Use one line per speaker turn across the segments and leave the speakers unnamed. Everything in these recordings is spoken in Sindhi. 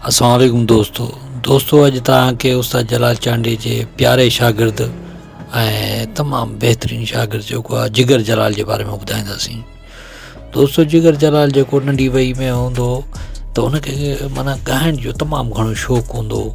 السلام عليڪم دوستو دوستو اڄ توهان کي استاد جلال چانڊي جي پياري شاگرد ۽ تمام بهترين شاگرد جيڪو آهي جگر جلال جي باري ۾ ٻڌائينداسين دوستو جگر جلال جيڪو ننڍي وئي ۾ هوندو هو ته هن کي معنيٰ ڳائڻ جو تمام گهڻو شوق هوندو هو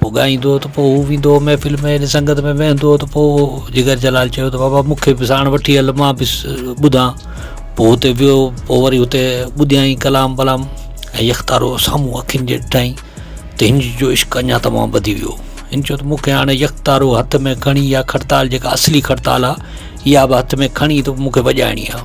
پوء ڳائيندو ته پوء هو ويندو هو محفل ۾ هيڏي سنگت ۾ ويهندو هو ته پوء جگر جلال چيو ته بابا مون کي به ساڻ وٺي هل مان به ٻڌان پوء هتي ويو پوء وري هتي ٻڌيائين ڪلام ولام ۽ يڪتارو سامهون اکين جي ڏٺائين ته هن جو عشق اڃا تمام وڌي ويو هن چيو ته مون کي هاڻي يڪتارو هٿ ۾ کڻي يا کڙتال جيڪا اصلي کڙتال آهي اها به هٿ ۾ کڻي ته مون کي وڄائڻي آهي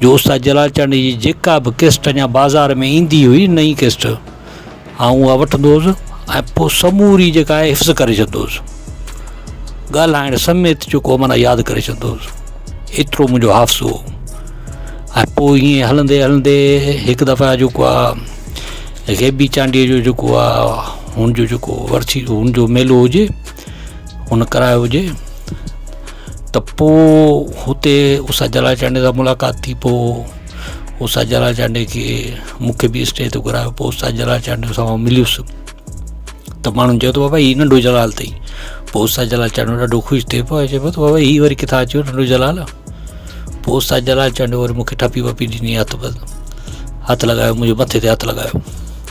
جو استاد جلال چانڊيي جي جيڪا به ڪيسٽ اڃا بازار ۾ ايندي هئي نئين ڪيسٽ آئون اها وٺندو هوس ۽ پوء سموري جيڪا آهي حفظ ڪري ڇڏندو هوس ڳالهائڻ سميت جيڪو معنيٰ ياد ڪري ڇڏندو هوس ايترو منهنجو حافظو هو ۽ پوء ائين هلندي هلندي هڪ دفعا جيڪو آهي غيبي چانڊيي جو جيڪو آهي هن جو جيڪو ورسي هن جو ميلو هجي هن ڪرايو هجي ته پوء هتي استاد جلال چانڊيو سان ملاقات ٿي پوء استاد جلال چانڊيو کي مون کي بي اسٽيج تي گهرايو پوء استاد جلال چانڊيو سان مليس ته ماڻهن چيو ته بابا هي ننڍو جلال اٿئي پوء استاد جلال چانڊيو ڏاڍو خوش ٿئي پيو چئي پيو ته بابا هي وري ڪٿان اچيو ننڍو جلال پوء استاد جلال چانڊيو وري مون کي ٺپي وپي ڏني هٿ بس هٿ لڳايو منهنجي مٿي تي هٿ لڳايو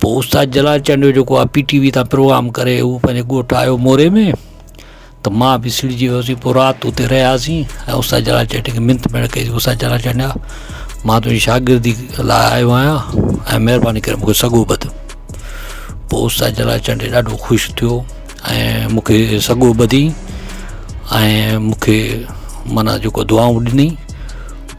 پوء استاد جلال چنڊ جو جيڪو آهي پي ٽي وي تان پروگرام ڪري هو پنهنجي ڳوٺ آيو موري ۾ ته ما به سڙجي ويوسي پوء رات اتي رهياسين ۽ استاد جلال چنڊ کي منٿ پڻ ڪئي سي استاد جلال چنڊ ما تنهنجي شاگردي لاء آيو آهيان ۽ مهرباني ڪري مونکي سڳو ٻڌ پوء استاد جلال چنڊ ڏاڍو خوش ٿيو ۽ مونکي سڳو ٻڌي ۽ مونکي مانا جيڪو دعائون ڏني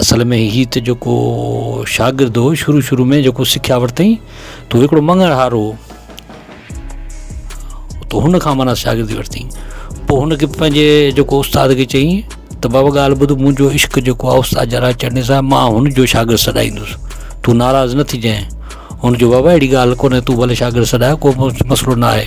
اصل ۾ هي ته جيڪو شاگرد هو شروع شروع ۾ جيڪو سکيا ورتئين تو هڪڙو مڱڻ هار هو تو هن کان مانا شاگردي ورتئين پوء هن کي پنهنجي جيڪو استاد کي چيائين ته بابا ڳالهه ٻڌ منهنجو عشق جيڪو آهي استاد جلال چنڙي صاحب مان هن جو شاگرد سڏائيندس تون ناراض نه ٿجانء هن چيو بابا اهڙي ڳالهه ڪونهي تون ڀلي شاگرد سڏاء ڪو مسئلو نه آهي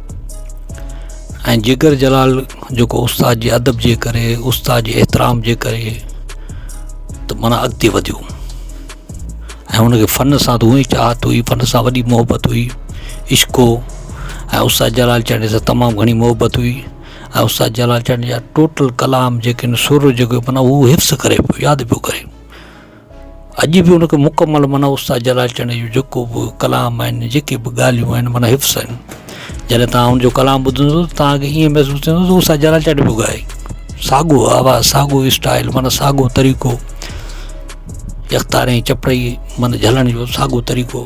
۽ جگر جلال جيڪو استاد جي ادب جي ڪري استاد جي احترام جي ڪري ته مانا اڳتي وڌيو ۽ ان کي فن سان ته اونئي چاهت هئي فن سان وڏي محبت هئي عشق هو ۽ استاد جلال چانڊيو سان تمام گهڻي محبت هئي ۽ استاد جلال چانڊيو جا ٽوٽل ڪلام جيڪي آهن سر جيڪو مانا هو حفظ ڪري پيو ياد پيو ڪري اڄ به ان کي مڪمل معنيٰ استاد جلال چنڙ جو جيڪو به ڪلام آهن جيڪي به ڳالهيون آهن معنيٰ حفظ آهن جڏهن توهان ان جو ڪلام ٻڌندو ته توهان کي ائين محسوس ٿيندو ته استاد جلال چنڙ پيو ڳائي ساڳو آواز ساڳو اسٽائل معنيٰ ساڳو طريقو يڪتاري چپڙئي معنيٰ جهلڻ جو ساڳو طريقو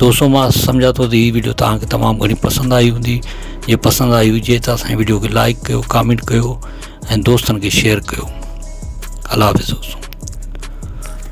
دوستو مان سمجهان ٿو ته هي ويڊيو توهان کي تمام گهڻي پسند آئي هوندي جي پسند آئي هجي ته اسان ويڊيو کي لائڪ ڪيو ڪامينٽ ڪيو ۽ دوستن کي شيئر ڪيو الله حافظ دوستو